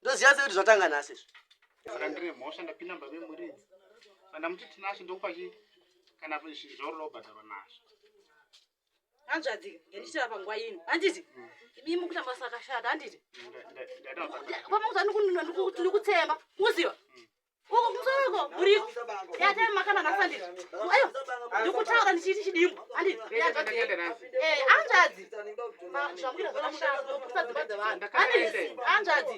ndoziva sekuti zvatanga nhasi izvi saka ndine mhosva ndapinda mumba memuridzi andamuti tinasho ndokupa chii kana zvaurira ubhadharwa nazvo hanzvadzika ngendichira panguva ino handiti imi mukuita masa akashata handiti pamauza ndikutsemba muziva uko kumusoro uko kuriko yatee makana nasandiri ayo ndikutaura ndichiiti chidimbu anzvadzi anzvadzi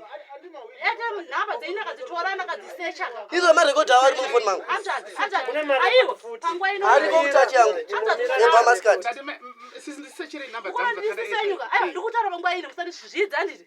yatee nhamba dzeini akadzitora nakadzisecha izo marekodhi awo ari mufoni mangu anzvadzi anzvadzi aiwo panguva ino ariko kutachi yangu yebamaskati ndikutaura panguva ino musandizvidza anditi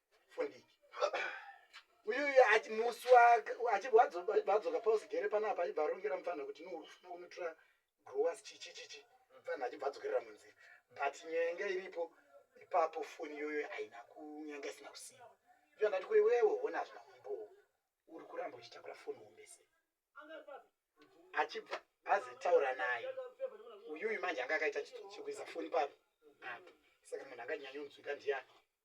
fundiki uyu ati musi achivadzoka pausigere panapa aibva arongera mupfanha kuti nourufuna kunotora growers chichichichi mupfanha achibva adzokerera munzira but nyaya yanga iripo ipapo foni iyoyo haina kunyanga isina kusiiwa iyo andati kuri wewe hona hazvina kumbowo uri kuramba uchitakura foni wombese achibva azitaura naye uyuyu manje anga akaita chitsotsi chekuisa foni papi apo saka munhu anganyanyonzwika ndiyani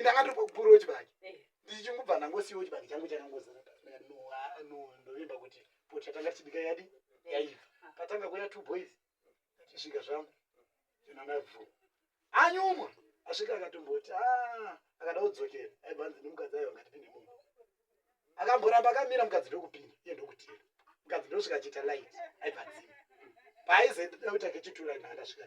ndanga ndiri kukuru wechibaki eh. ndichingubva ndangosiwo chibaki changu chakangozara ndovimba kuti poti yatanga tichibika yadi eh. yaiva patanga kuya two boys tichisvika zvangu zvinanabvu anyumwa asvika akatomboti ah, akada kudzokera aibva anzi nemukadzi ayo angatipinde munhu akamboramba akamira mukadzi ndokupinda iye ndokutira mukadzi ndosvika achiita light aibva dzima paaizoita kuita kechitura ndandasvika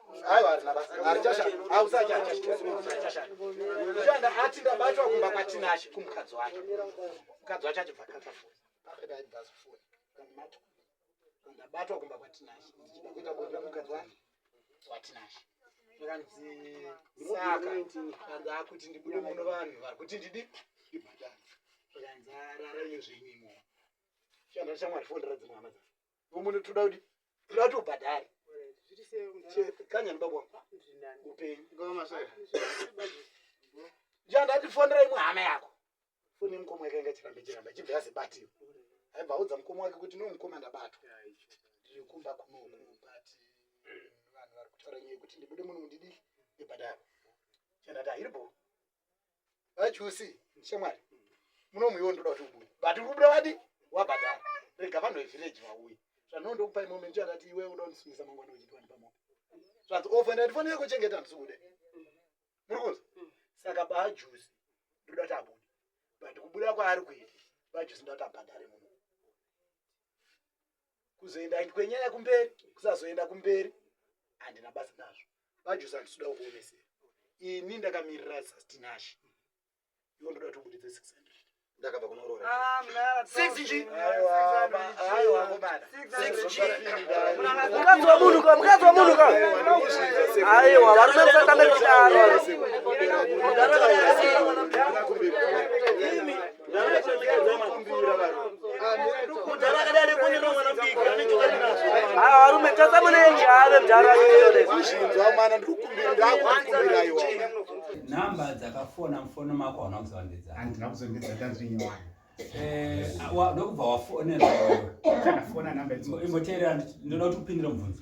ati ndabatwa kumba kwatinashe kumukadzi wake mukadzi wacho achibva ndabatwa kumba kwatinashe ndichida kuita bonde mukadzi wake kwatinashe zvikanzi saka kanzi akuti ndibude muno vanhu vari kuti ndidi ndibhadhara zvikanzi arara iyo zvenyimo shandira shamwari fondera dzimwe hama dzavo umwe toda kuti toda kuti ubhadhare kanyani baba wangu upenyu chandatifonera imwe hama yako foni yemukoma yakainga chiramba chiramba chibva yazibatiwa aibva audza mukoma wake kuti nomukoma ndabatwa ndiri kumba kunoku but vanhu vari kutaura nyaya yekuti ndibude muno mundidii ibhadhare chandati ahiripo vajusi shamwari munomuiwo ndoda kuti ubuye but uri kubuda wadi wabhadhara rega vanhu vevhireji vauye zvandino ndokupai moment yakati iwe uda kundisungisa mangwana uchitiwani pamoto zvanzi ofa ndatifanira kuchengeta ndisukude muri kunzi saka bajusi ndoda kuti abude but kubuda kwaari kuita bajusi ndoda kuti abhadhare munhu kuzoenda kwenyaya kumberi kusazoenda kumberi handina basa nazvo vajusa ndisuda kukuonesera ini ndakamirira sastinashi ivo ndoda kuti ubuditse six hundred ndakabva kunoroora mukadzi wamunhu ka mukadzi wamunhu ka aiwa varume musatanga kudaro varume tasa muneji ave mdara nhamba dzakafona mufono mako hauna kuzondedza handina kuzondedza ndazvinyewana ndokubva wafonera imboteerera ndinoda kuti upindire mubvunzo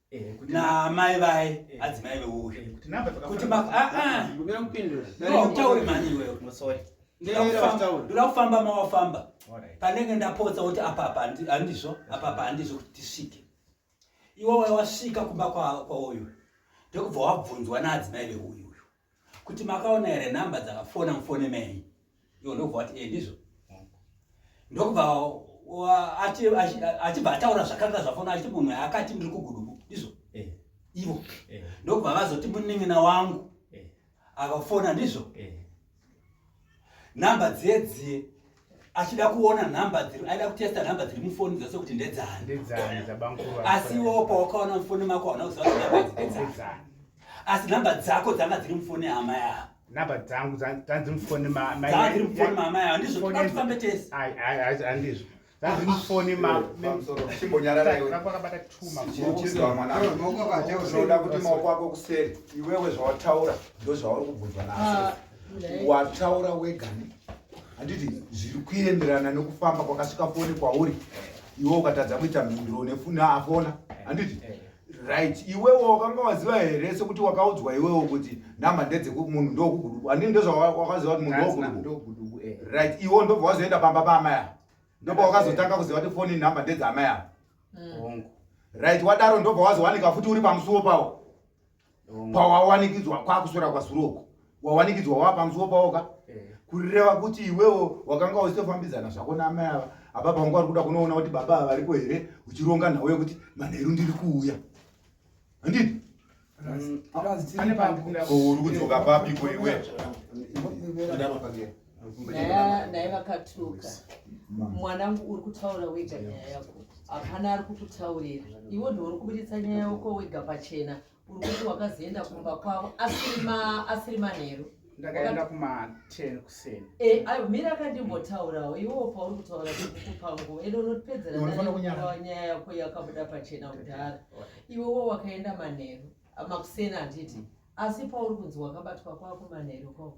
Eh, na mai vaye eh. hadzi mai veuri eh, kuti mautaure mani iwewe ndoda kufamba mawafamba panenge ndapotsa kuti apapa handizvo apapa handizvo kuti tisvike iwe waiwasvika kumba kwauyu ndokubva wabvunzwa naadzimai veuyu kuti makaona here number dzakafona mufone mei iwo ndokubva wati e ndizvo ndokubva achibva ataura zvakanga zvafona achiti munhu akati ndiri kugudubu ndizvo eh. ivo eh. ndokubva vazoti munin'ina wangu eh. akafona ndizvo number dzedzie achida kuona number dziri aida kutesta number dziri mufoni dzose kuti ndedzani asi iwewo pawakaona mufoni mako hauna kuziva kuti number dzidedzani asi number dzako dzanga dziri mufoni hama yavo number dzangu dzanzi mufoni maamai dzanzi mufoni maamai handizvo tofambe tese handizvo Mufoni ma pamusoro chimbonyarara iwe. Kwakabata two ma Chichizwa mwana. Maoko akaja Unoda unoda kuti maoko ako kuseri. Iwewe zvawataura ndozvauri kubvunzwa naso. Wataura wega ne. Handiti zviri kuenderana nekufamba kwakasvika foni kwauri. Iwe ukatadza kuita mhinduro nefuna afona. Handiti right iwewe wakanga waziva here sekuti wakaudzwa iwewe kuti namba ndedzemunhu ndokuguduku andini ndozvawakaziva kuti munhu ndokuguduku eh. right iwo ndobva wazoenda pamba paamai ava ndobva wakazotanga kuziva kuti foni namba ndedzaamai ava hmm. right wadaro ndobva wazowanika futi uri pamusuwo pawo mm. pawawanikidzwa kwakuswera kwazuroko wawanikidzwa wava pamusuwo pawoka eh. kureva kuti iwewo wakanga uchitofambidzana zvako naamai ava apa panga wari kuda kunoona kuti baba ava varipo here uchironga nhau yekuti manheru ndiri kuuya handiti mm. uri kudzoka papiko iwe naye vakatuka mwanangu uri kutaura wega nyaya yako hapana ari kukutaurira iwo ndiwo uri kuburitsa nyaya yako wega pachena uri kuti wakazoenda kumba kwavo asiri manheru ndakaenda kuma10 kuseni eh ayo mira akandimbotaurawo iwo pauri kutaura kukupa nguva ende unotipedzera nyaya yako yakabuda pachena kudhara iwewo wakaenda manheru makuseni handiti asi pauri kunzi wakabatwa kwako manheru koko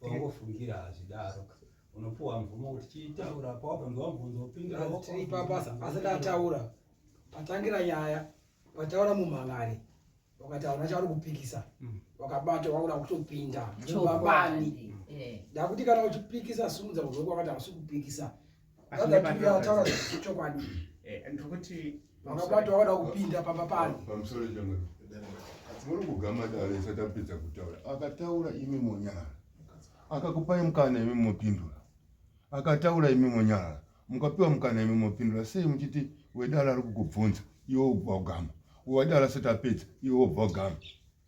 paungofungira hazvidaro unopuwa mvumo kuti chiitaura pawakanzwa mubvunzo upindirasati ataura patangira nyaya pataura mumhan'ari wakataura chauri kupikisa mm. wakabata waura kutopinda mubabani mm. eh. dakuti kana uchipikisa simudza kuzoko wakati hausi kupikisa vazatiuyataura zvechokwadi eh, ndikuti vakabatwa vada kupinda pamba pano pamusoro chemwe asi muri kugama dare isati apedza kutaura akataura imi monyara akakupai mukana imi mopindura akataura imi monyara mukapiwa mukana imi mopindura sei muchiti wedara ari kukubvunza iwe ubva ugama wadara asati apedza iwe ubva ugama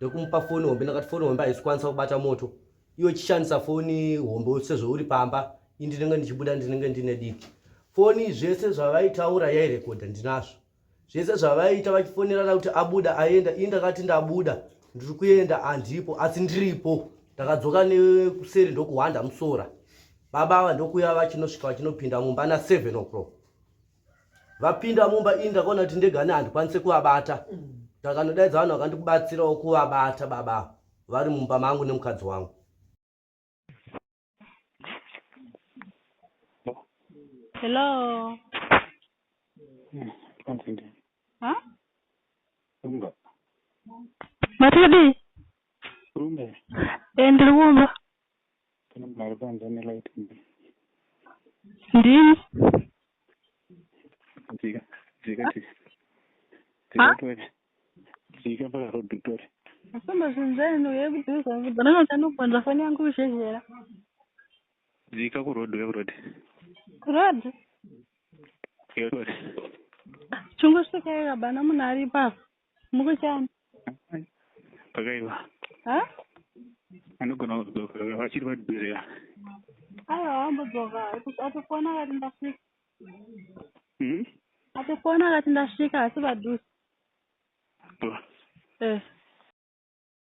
ndokumupa foni hombe ndakati foni hombe haisi kwanisa kubata moto iwe chishandisa foni hombe sezvo uri pamba i ndinenge ndichibuda ndinenge ndine diki foni zvese zvavaitaura yairekodha ndinazvo zvese zvavaiita vachifonerana kuti abuda aenda ii ndakati ndabuda ndiri kuenda handipo asi ndiripo ndakadzoka nekuseri ndokuhwanda musora baba ava ndokuya vachinosvika vachinopinda mumba na7 o'clock vapinda mumba ini ndakaona kuti ndegani handikwanise kuvabata ndakanodaidza vanhu vakandikubatsirawo kuvabata baba vari mumba mangu nemukadzi wangu hello matodi eh, ndiri kumba ndini dzika dzika dzika pakarodhutori asomba zvinhu zvaino yekudhuzananotanogonza foni yangu kuzhezhera dzika kuroad uya kuroad kuroad chingosvika yekabana munhu aripo apa Mukuchani. Pakaiva. Ha? Anogona kudzoka vachiri vadhirira. Aiwa haambodzoka. Atofona akati ndasvika. Mhm. Atofona akati ndasvika asi vadusi. Bro. Eh.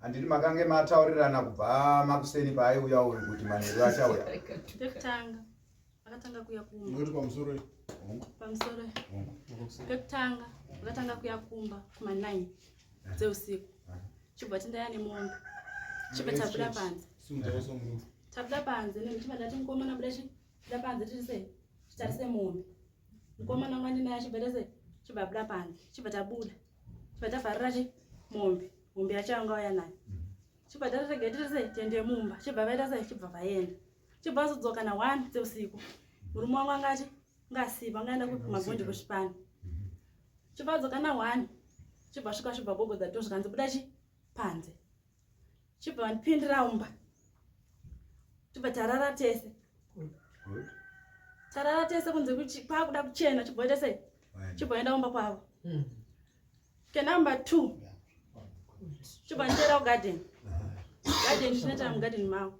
handiti makange mataurirana kubva makuseni paaiuya uyu kuti manheru achauya pekutanga vakatanga kuya kumba pamusoro pamusoro pekutanga vakatanga kuya kumba kuma9 dzeusiku chibva tindaya nemombe chibva tabuda panze tabuda panze nechibva ndati mukomana buda chida panze tirise titarise mombe mukomana mwandinaye chibva tese chibva buda panze chibva tabuda Vachavharira chii? Mombe. Mombe yacho yanga waya nayo. Chibva tarira gate rese tiende mumba. Chibva vaita sei? Chibva vaenda. Chibva azodzoka na 1 dzeusiku. Murume wangu angati ngasipa angaenda kupi magondi kuchipani. Chibva adzoka na 1. Chibva svika chibva gogodza to zvikanzi buda chii? Panze. chibva vandipindira umba tibva tarara tese tarara tese kunze kuti kwakuda kuchena chibva ita sei chibva enda umba kwavo hmm. ke number two chibva nditeera kugarden garden chinoita mugarden mavo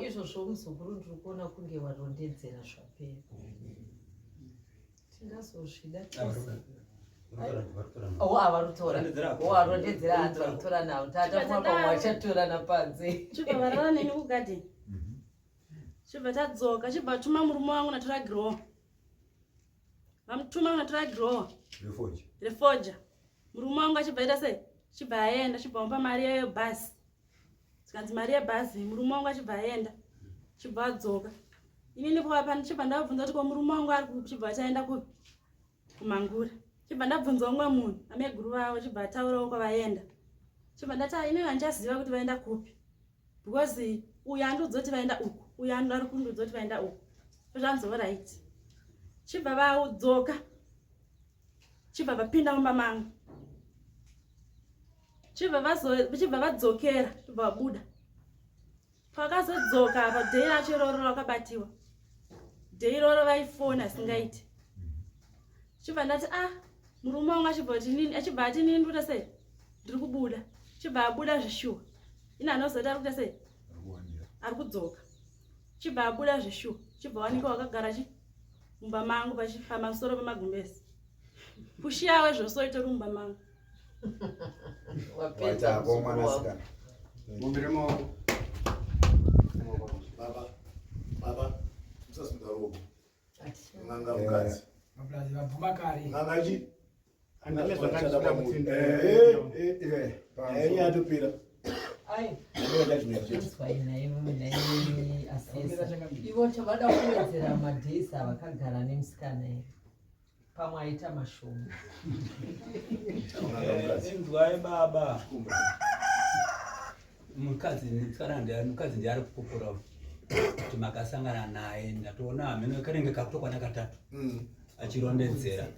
izvozvo muzukuru ndiri kuona kunge warondedzera zvapera tingazozvida tese chibva tadzoka chibva tuma murume wangu natora growa vamutuma natora growa refoja murume wangu achibva ita sei chibva aenda chibva mupa mari yayo bhasi zvikanzi mari yebhazi murume wangu achibva aenda chibva adzoka inini chibva ndabvunza kuti ko murume wangu ari chibva achaenda kupi kumangura chibva ndabvunza umwe munhu ameguru vavo chibva ataurawo kwavaenda chibva ndati inini handichaziva kuti vaenda kupi because uyu andiudza kuti vaenda uku uyu ari kundiudza kuti vaenda uku zvanzi orit chibva vadzoka chibva vapinda mumba mangu chibva vachibva vadzokera chibva vabuda pakazodzoka apa dhei racho iroro rakabatiwa dhei iroro vaifona asingaiti chibva ndati a ah, murume wangu achibva kuti nini achibva ati nini kuita sei ndiri kubuda chibva abuda zvishuwa ini anozoti ari kuita sei ari kudzoka chibva abuda zveshuwa chibva wanika wakagara chi mumba mangu pamusoro pemagumbezi pushiyawe zvose oita uri mumba mangu Nganga mukadzi. Nganga chi? yatopera ivo chavada kuwedzera madays avakagara nemusikana here pamwe aita mashoma inzwai baba mukadzi musikana mukadzi ndiari kukokora kuti makasangana naye ndatoona hameno kanenge kakutokwana katatu mm. achirondedzera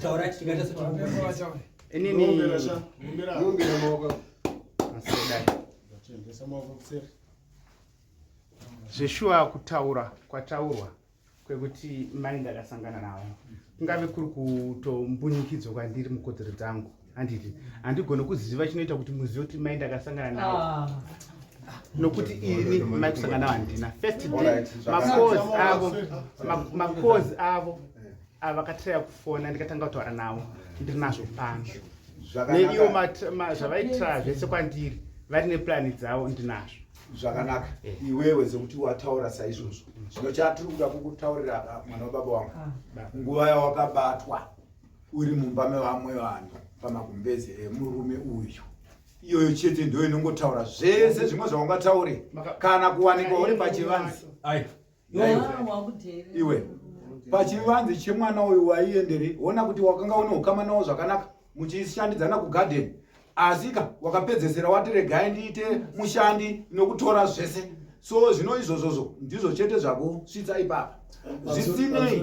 Taura chingata sote kumbira. Ini ni kumbira sha. Kumbira. Kumbira moko. Masida. Ndachembesa moko kuseri. Zveshuwa kutaura kwataurwa kwekuti mai ndakasangana navo kungave kuri kutombunyikidzwa kwandiri mukodzero dzangu handiti handigone kuziva chinoita kuti muzive kuti mai ndakasangana nawo ah. nokuti ini mai kusangana handina first day makozi avo makozi avo avakatiraya kufona ndikatanga kutaura navo ndiri nazvo pano neiwo zvavaitira zvese kwandiri vari neplani dzavo ndinazvo zvakanaka eh. iwewe sekuti wataura saizvozvo zvino chatiri kuda kukutaurira mwana wababa wangu ah. nguva yawakabatwa uri mumba mevamwe vanhu pamagumbeze emurume uyu iyoyo chete ndo inongotaura zvese zvimwe zvaungataure kana kuwanikwa uri pachivanzi iwe pachivanzi chemwana uyu waiendere ona kuti wakanga une ukama nawo zvakanaka muchishandidzana kugadeni asika wakapedzesera wati regai ndiite mushandi nokutora zvese so zvino izvozvozvo ndizvo chete zvakusvitsa ipapa zvisinei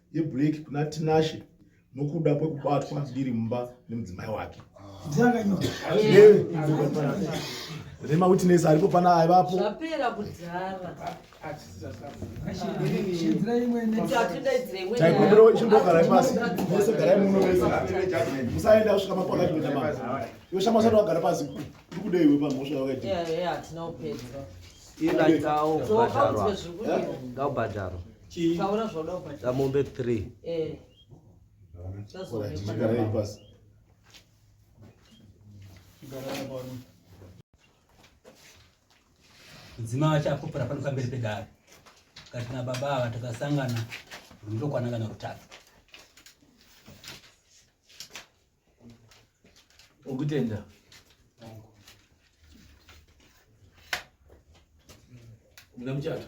yeblack kuna tinashe nokuda kwekubatwa ndiri mumba nemudzimai wake nemawitness aripo pana aivapo taikumbirawo chimbogarai pasi mese garai muno mese musaenda kusvika mapakati kunyama iwe shama usati wagara pasi ndikudei we pamhosva yawakaita ngaubhadharwa Taura zvoda ubata. Kamombe 3. Eh. Mudzima wacho apopora pano pamberi pedare kati na baba ava takasangana rundokwana kana rutatu okutenda muna muchato